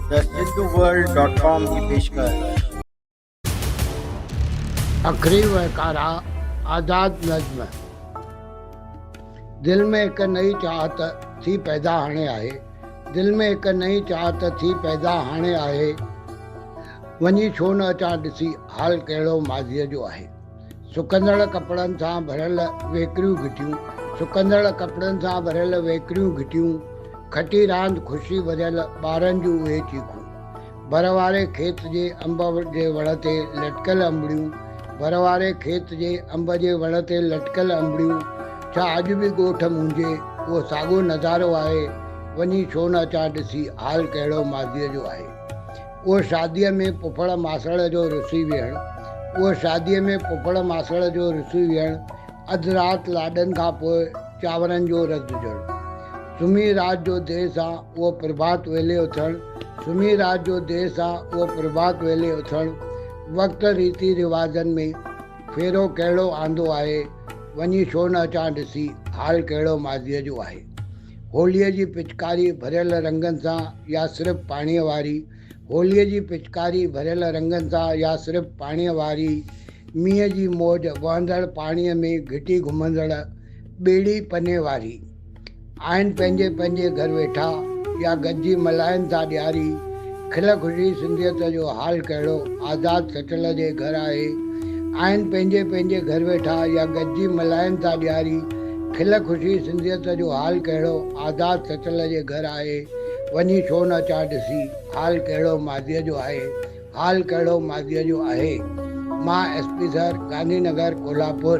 The Hinduworld dot com جي پيشڪش. اکري و ڪارا آزاد نظم دل ۾ هڪ نئين چاهت ٿي پيدا هاڻي آهي دل ۾ هڪ نئين چاهت ٿي پيدا هاڻي آهي وڃي ڇو نه اچان ڏسي حال ڪهڙو ماضيء جو آهي. سڪندڙ ڪپڙن سان ڀريل ويڪريون گهٽيون سڪندڙ ڪپڙن سان ڀريل ويڪريون گهٽيون کٽي راند خوشي ڀريل ٻارن جون اهي چيخون ڀر واري کيت جي انب جي وڻ تي لٽڪيل انبڙيون ڀر واري کيت جي انب جي وڻ تي لٽڪيل انبڙيون ڇا اڄ به ڳوٺ منهنجي اهو ساڳيو نظارو آهي وڃي ڇو نه اچان ڏسي حال ڪهڙو ماضيء جو آهي اهو شاديء ۾ پڦڙ ماسڙ جو رسي ويهڻ اهو شاديء ۾ پڦڙ ماسڙ جو رسي ويهڻ اڌ رات لاڏن کان پوء چانورن جو رڌجڻ سمهي رات جو دير سان اهو پرڀات ويلي اٿڻ سمهي رات جو دير سان اهو پرڀات ويلي اٿڻ وقت ريتي رواجن ۾ ڦيرو ڪهڙو آندو آهي وڃي ڇو نه اچان ڏسي حال ڪهڙو ماضيء جو آهي. هوليء جي پچڪاري ڀريل رنگن سان يا صرف پاڻيء واري، هوليء جي پچڪاري ڀريل رنگن سان يا صرف پاڻيء واري، مينهن جي موج وهندڙ پاڻيء ۾ گهٽي گهمندڙ ٻيڙي پني واري. آهن پنهنجي پنهنجي گهر ويٺا يا گڏجي ملائن ٿا ڏياري، کل کجي سنڌيت جو حال ڪهڙو آزاد سٽل جي گهر آهي آهن پنهنجي پنهنجي گهر ويٺا يا گڏجي ملهائين ٿا ڏياري کل کجي سنڌيت جو حال ڪهڙو آزاد سٽل جي گهر آهي وڃي ڇو نه اچان ڏسي حال ڪهڙو ماضيء جو آهي حال ڪهڙو ماضيء جو اهي مان S P sir Gandhi Nagar Kolhapur.